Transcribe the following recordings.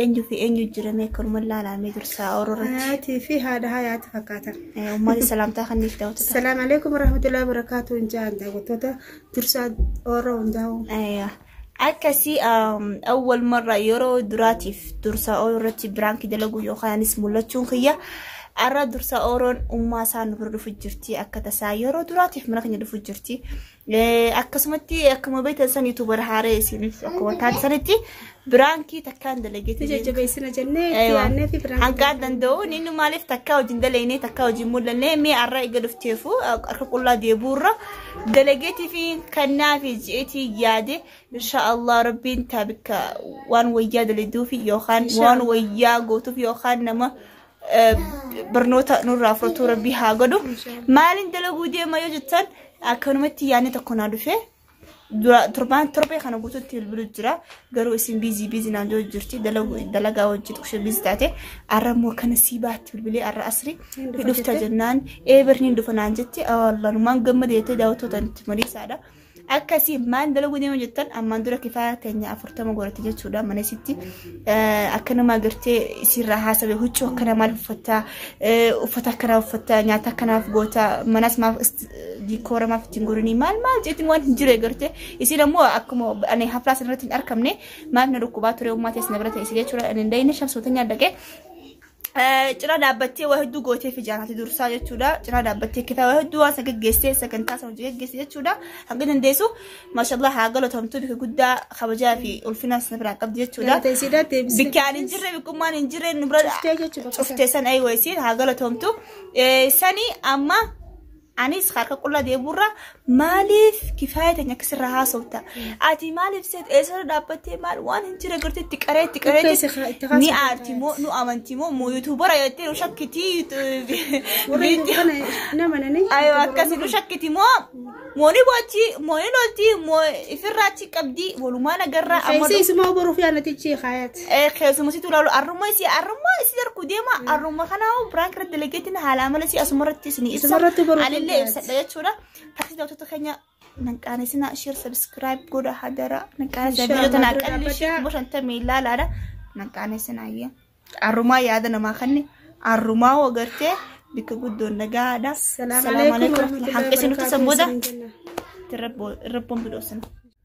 Eenyu fi eenyu jirame akkanuma laalaamee dursaa ooluu irratti. Hayaatii fi haadha hayaati fakkaatan. Uummanni salaamtaa kanniif daawwatu. Salaam alaikum warahmatullahi wabarakatuh hin jaan daawwattoota dursaa ooluu hundaa'u. Akkasii awwal marraa yeroo duraatiif dursaa ooluu irratti biraankii dalaguu yookaanis mul'achuun kiyya. Arra dursaa ooroon ummaa isaa nu bira dhufu jirti akka tasaa yeroo duraatiif mana keenya dhufu jirti. akkasumatti akkuma beektan san yuutuubar haaree isiniif akkuma taate sanitti biraankii takkaan dalageeti. Jajjabeessina jennee yaadneeti biraankii. Hanqaa danda'u inni maaliif takkaa hojiin dalaynee takkaa hojiin mul'annee mee har'a eega dhufteefu harka qullaa deebuurra dalageetii fi kannaa fi ji'eetii yaade insha Allah rabbiin taabika waan wayyaa daladuuf yookaan waan wayyaa gootuuf yookaan nama eh, barnoota nurraa fudhatu rabbii haa godhu maaliin dalaguu deema yoo jettan akkanumatti yaadni tokko naa dhufe dura torbaan torbee kana guututti bilbilu jira garuu isin biizii biizii naan jiru jirti dalagu dalagaa wajjin xiqshe biizii taate arra immoo kana sii baatti bilbilee arra asri hidhufta jennaan ee barniin dhufa naan jetti awaallanumaan gammada jettee daawwattootaan itti mariisaadha. akkasii maal dalaguu deema jettan ammaan dura kifaaya teenya afurtama godhatte jechuudha mana isitti akkanuma agartee isiirraa haasawe huccuu akkana maal uffattaa uffata akkanaa uffattaa nyaata akkanaaf gootaa manas maaf diikoora maaf ittiin godhanii maal maal jeetiin waan hin jirre agartee isiin ammoo akkuma ani haflaa sanarratti hin argamne maaf na dhukkubaa ture ummaa teessina bira ta'e isilee jechuudha ani hin dayne shamsootan nyaadhaqee Cina dhaabbattee waa hedduu gootee fi jaarrati dursaa jechuudha. Cina dhaabbattee kitaaba hedduu waan san geggeessee sagantaa san hojii geggeessee jechuudha. Hanga dandeessu maashaallah haa galatomtu bika guddaa kabajaa fi ulfinaa sana biraa qabdi jechuudha. Bikkaan hin jirre bikkummaan hin jirre nu bira cuftee san ayi wayisiin haa galatomtu. Sani amma Anis harka qullaa deemuurra maaliif kifaaya teenya akka sirraa haasofta? Ati maaliif seet eessarra dhaabbattee maal waan hin jire gartee itti qaree itti qaree Uffee si haa- itti ni haasofta. aarti moo nu amanti moo moo yuutuubara jettee nu shakkitii Warri viidiyoo kana nama nani. Ayo akkasi nu shakkiti moo mooni bochi mooni lolti moo ifirraa achi qabdi walumaa nagarraa amma Keessee isumaa boruuf yaanatichi haayat. Eh, keessuma situ laalu arrumma isii arrumma isii arku deema arrumma kanaa hoo biraan kira dalageetiin haala amala isii asuma irratti isin ibsa Asumarratti baruu anillee dandeessi. ibsadha jechuudha taksi daawwattoota keenya nan qaanesina sheer sabiskiraayib godha hadara nan qaanesina Inshallah, biyyoota naa dura qalli ishee dhaabbataa. kuma shantamii ilaalaadha nan qaanesina ayya arrumaa yaada namaa kanne arrumaa hoo gartee bikka guddoon nagaadha Salaamu alaikum warahmatullahi hanqisinutti wabarakatuh. sanbooda Isin jenna. irra boon bidhoosina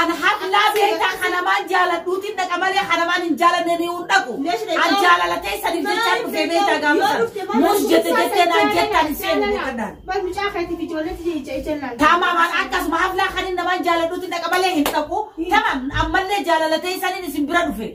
An hablaa beektaa kanamaan jaaladhuutiin dhaqa malee kanamaan hin jaalanne ni hin dhaqu. An jaalala keessaniif jechaa dhufee beektaa gaafatan. Muus jette jettee naan jettaan hin seenu beekadhaan. Tamamaan akkasuma hablaa kanin namaan jaaladhuutiin dhaqa malee hin dhaqu. Tamam ammallee jaalala keessaniin isin bira dhufe.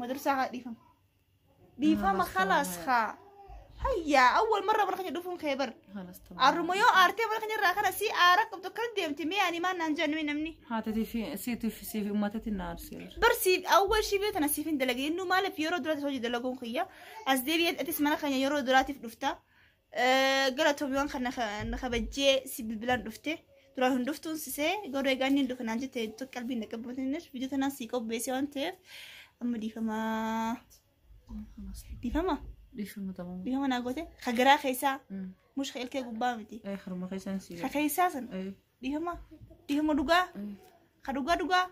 madarsaa haa dhiifama dhiifama khalaas haa hayyaa awwal marra mana keenya dhufuun kee bar arruma yoo aartee mana keenya irraa kana si aara qabdu kan deemti mee ani maan naan jennee namni Haatiif siitiif siif uummatatti na aarseera. barsiif awwal shibee tana siif hin dalagin nu maaliif yeroo duraatiif hojii dalaguun kiyya as deebi'ee atis mana keenya yeroo duraatiif dhufta Galatoomii waan kan na kabajjee si bilbilaan dhufte. Duraan hin dhuftuun sisee garuu egaa inni hin dhufe naan jette iddoo qalbiin na qabbatinir viidiyoo tanaan sii qopheessee waan ta'eef amma dhiifamaa. Dhiifama? Dhiifama ta'uu. Dhiifama naa goote? Ka garaa keessaa mush ka ilkee gubbaa miti. Ee harma keessaan si Ka keessaa san Eh, dhiifama? Dhiifama dhugaa? eh, Ka dhugaa dhugaa?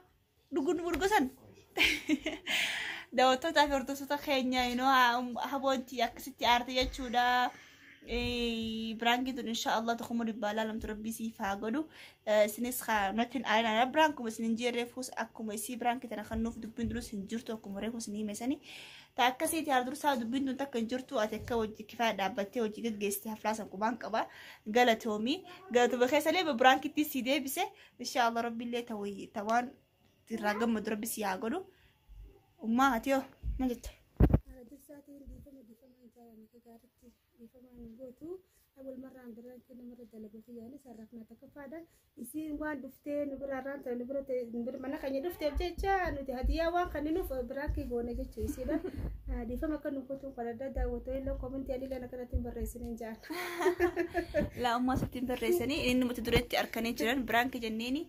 dhugun burgusan daawwattootaa fi hordoftoota keenya inoo haboonti akkasitti aarte jechuudha. Biraankiin tun insha Allah tokkummaa dhibbaa laalamtu rabbii siif haa godhu. Isinis kanattiin aarinaa biraan kuma isin hin jirre fuus akkuma isii biraankii tana kan nuuf dubbiin durus hin jirtu akkuma reefu isin himesanii. Ta akkasiiti haal dursaa dubbiin tun takka hin jirtu ati akka hojii kifaa dhaabbattee hojii gaggeessitee haflaasan qubaan qaba galatoomii galatuma keessallee biraankitti sii deebise insha Allah rabbillee ta wayyi ta waan irraa gammadu rabbi si haa godhu ummaa ati hoo maal jetta Haala dursaa ta'een dhiifama dhiifama hin jaallanne akka gaariitti dhiifama hin gootu. Abul marraan biraan kee namarra dalaguu fi yaanis har'aaf na tokkoffaadha. Isiin waan dhuftee nu biraa irraan ta'e nu bira ta'e nu bira mana keenya dhufteef jecha nuti hadiyyaa waan kan nuuf biraan kee goone jecha isiidha. Dhiifama akka nu gootu kan adda daawwattoonni illee koomentii ani illee akkanatti hin barreessine hin ja'an. Laa'ummaa sittiin tarreessanii inni mata dureetti arkanii jiran biraanki jenneeni.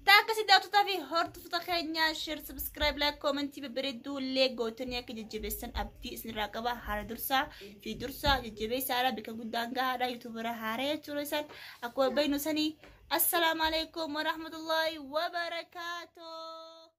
Taa akkasii daawwattotaa fi hordoftoota keenya share subscribe like koomentii babbareedduu illee gootanii akka jajjabeessan abdii isinirraa qaba haala dursaa fi dursaa jajjabeessaa haala bakka guddaan gahaadha yuutuubara haaraa jechuudha isaan akkuma beeknu sanii assalaamu alaikum warahmatullaahi wabarakaatuh.